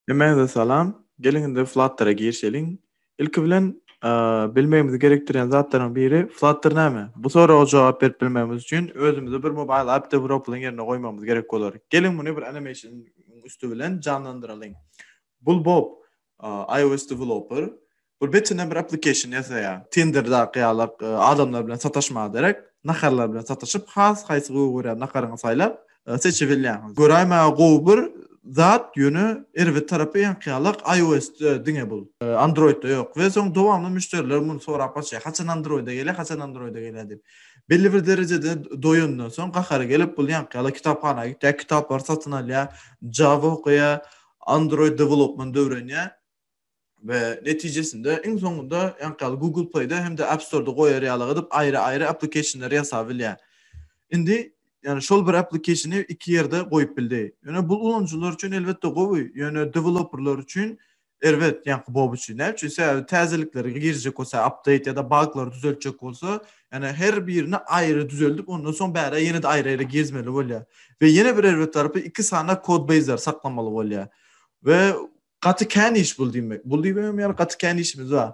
Hemmäňize salam. Geliň indi Flutter-a girişeliň. Ilki bilen bilmegimizi gerekdirýän zatlaryň biri Flutter näme? Bu soraga jogap berip bilmegimiz üçin özümize bir mobile app developerlyň ýerine goýmagymyz gerek bolar. Geliň muny bir animation-yň üsti bilen janlandyralyň. Bulbob iOS developer bir betine bir application ýasaýa. Tinderdaky ýaly adamlar bilen sataşmaga derek, naharlar bilen sataşyp, has haýsy gowy görýän naharyňy saýlap, seçibilýäňiz. Göräýmäge gowy bir zat, ýöne erbet tarapy ýaňky ýaly iOS-de diňe bu. Android-de ýok. We soň dowamly müşderiler muny sorap gaçýar. Haçan Android-e gelýär, haçan Android-e gelýär diýip. Belli bir derejede doýandan soň gahary gelip, bul ýaňky ýaly kitaphana gitýär, kitaplary satyn alýar, Java okaýar, Android development öwrenýär we netijesinde iň soňunda ýaňky ýaly Google Play-de hem-de App Store-da goýar ýaly gadyp aýry-aýry application-leri ýasap bilýär. Indi ýöne şol bir application-y iki ýerde goýup bildi. Ýöne bu ulanyjylar üçin elbetde gowy, ýöne developerlar üçin erbet ýaňky Bob üçin. Näme üçin? Sebäbi täzelikler girjek bolsa, update ýa-da baglary düzeltjek bolsa Ýagny her birini aýry düzeldip ondan soň bärä ýene-de aýry-aýry gezmeli bolýar. We ýene bir erbet tarapy iki sany kodbeýzleri saklamaly bolýar. We gaty kän iş bul diýmek. Bul diýibem ýaly gaty kän işimiz bar.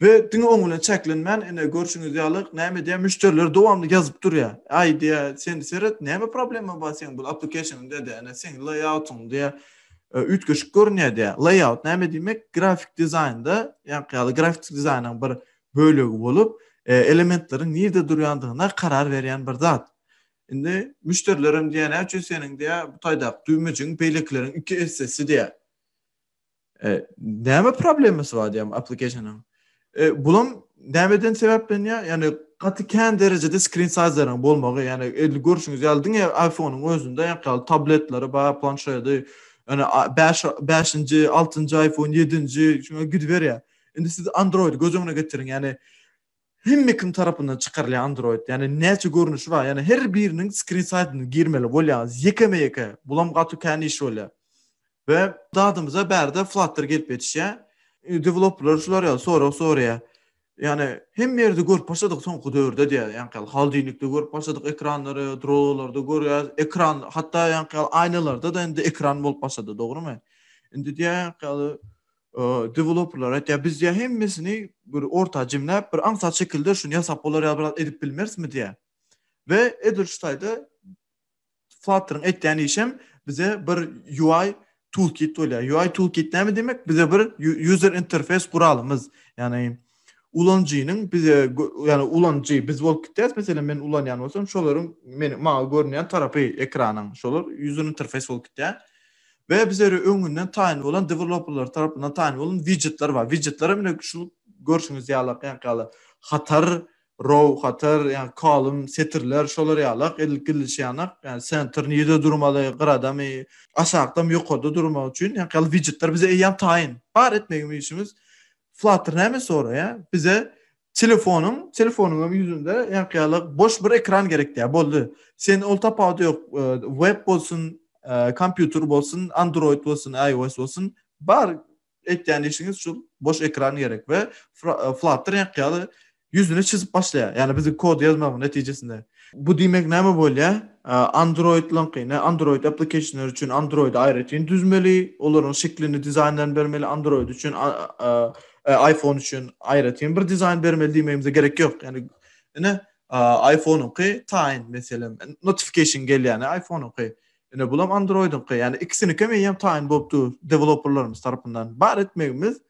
We diňe oň bilen çäklenmän ine görşüňiz ýaly näme edýär müşderiler dowamly ýazyp durýar. Aý diýýär sen seret näme problema bar seň bul applicationyňda diýýär ine seň layout'yň diýýär üýtgeşik görünýär diýýär. Layout näme diýmek grafik dizaýnda ýaňky ýaly grafik dizaýnyň bir bölegi bolup, elementleriň nirde durýandygyna karar berýän bir zat. Indi müşderilerem diýýär, näme üçin seniň diýýär, bu taýdaky düwmejigiň beýlekileriň iki essesi diýýär. Näme problemasy bar diýýär application-yň. Bulam nämeden sebäplenýär? Ýagny gaty kän derejede screen size-laryň bolmagy, ýagny edil görşüňiz ýaly diňe iPhone-yň özünde ýok ýaly tabletleri bar, planşedi, ýagny bäş, bäşinji, altynjy iPhone, ýedinji, şuňa gidiberýär. Indi siz Android göz öňüne getiriň, ýani hemme kim tarapyndan çykarylýan Android, ýani näçe görnüşi bar, ýani her biriniň skrin saýtyna girmeli bolýar, ýekeme-ýeke, bulam gaty kän iş bolýar. We dadymyza bärde Flutter gelip ýetişýär. Developerler şular ýaly sorag soraýar. Ýani hemme ýerde görüp başladyk soňky döwürde diýýär, ýani haldilikde görüp başladyk ekranlary, drolarda görýär, ekran hatda ýani aýnalarda-da indi ekran bolup başlady, dogrymy? Indi diýýär, ýani deweloperler aýtýar, biz diýýär hemmesini bir orta jemläp, bir aňsat şekilde şuny ýasap bolar ýa biraz edip bilmerismi diýýär. We edil şu taýda Flutter-iň etýän işem bize bir UI toolkit bolýar. UI toolkit näme diýmek? Bize bir user interface guralymyz. Ýagny ulanyjynyň bize, ýagny ulanyjy biz bolup gitýäris, meselem, men ulanýan bolsam, şolaryň meniň maňa görünýän tarapy ekranyň, şolar user interface bolup gitýär. We bize öri öňünden taýyn bolan deweloperler tarapyndan taýyn bolan widjetler bar. Widjetler hem ine şu görşüňiz ýalak ýaňky hatar, row, hatar, ýagny kolum, setirler, şolar ýalak edilip gidilişi ýanak, ýagny senter nirede durmaly, gyradamy, aşakdamy, ýokarda durmaly üçin ýaňky ýaly widjetler bize eýýäm taýyn. Bar etmegimiz işimiz Flutter näme soraýa? Bize telefonyň, telefonyň hem ýüzünde ýaňkyýalyk boş bir ekran gerek diýä. Boldy. Sen ol tapawudy ýok. E, web bolsun, e, kompýuter bolsun, Android bolsun, iOS bolsun, bar etýän işiňiz şu boş ekran gerek we e, Flutter ýaňkyýaly ýüzüni çyzyp başlaýar. Ýagny biziň kod ýazmagymyň netijesinde. Bu diýmek näme bolýar? Android-laňky, ne Android application-lar üçin Android-y aýratyn düzmeli, olaryň şeklini, dizaýnlaryny bermeli, Android üçin, iPhone üçin aýratyn bir dizaýn bermeli diýmegimize gerek ýok. Ýagny ine iPhone-yňky taýyn meselem, notification gelýär iPhone-yňky. Ine bulam Android-yňky. Ýagny ikisinikem eýýäm taýyn bolup dur deweloperlarymyz tarapyndan. Bar etmegimiz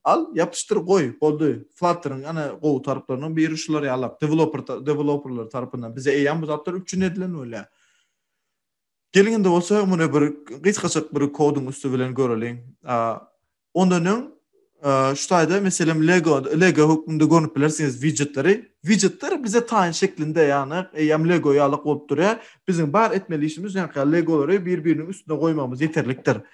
Al, ýapyşdyr, goý, boldy. Flutter-iň ene gowy tarplarynyň biri şular ýalak, deweloper, deweloperler tarapyndan bize eýýäm bu zatlar üpjün edilen bolýar. Geliň indi bolsa muny bir gysgajyk bir koduň üsti bilen göreliň. Ondan öň şu taýda meselem Lego, Lego hökmünde görnüp bilersiňiz widjetleri. Widjetler bize taýyn şeklinde, ýagny eýýäm Lego ýalak bolup durýar. Biziň bar etmeli işimiz ýaňky Legolary bir-biriniň üstüne goýmagymyz ýeterlikdir.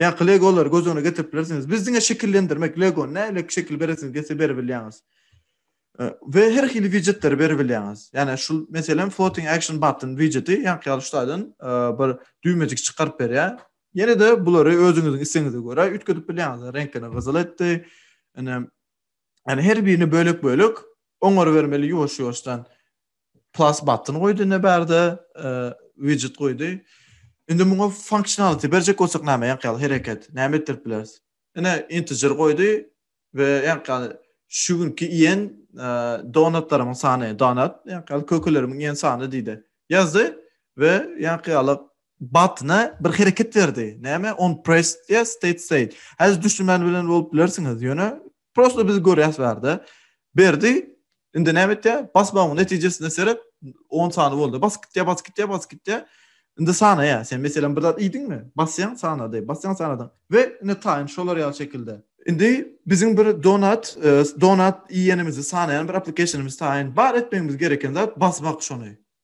Ýaňky legolary göz öňüne getirip bilersiňiz. Biz diňe şekillendirmek, legony nähili şekil beresiňiz diýse berip bilýäňiz. We her hili widjetleri berip bilýäňiz. Ýani şu meselem floating action button widjeti ýaňky ýaly şu taýdan e, bir düwmejik çykaryp berýär. Ýene-de bulary özüňiziň islegiňize görä üýtgedip bilýäňiz. Reňklerini gyzyl etdi. Ine, ýani her birini bölek-bölek oňar bermeli ýuwaş-ýuwaşdan. plus button goýdy indi bärde widget goýdy. Indi muňa functionality berjek bolsak näme ýaňky hereket näme etdirip bileris? Ine integer goýdy we ýaňky şu günki iýen donatlarymyň sany donat ýaňky kökelerimiň iýen sany diýdi. Ýazdy we ýaňky ýaly button bir hereket berdi. Näme? On press yes state state. Häzir düşünmän bilen bolup bilersiňiz. Ýöne Prosto biz görýäs bärde. Berdi indi näme etýär? Basmagyň netijesine seret 10 sany boldy. Bas gitýär, bas gitýär, bas gitýär. Indi sanaýa. Sen meselem bir zat iýdiňmi? Basýaň sanady. Basýaň sanadyň. We indi taýyn şolar ýaly şekilde. Indi biziň bir donat, e, donat iýenimizi sanaýan bir applikasyonymyz taýyn. Bar etmegimiz gereken zat basmak şony.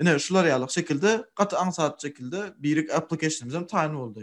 Ine, şular ýaly şekilde, gaty aňsat şekilde birik application-imizem taýyn boldy.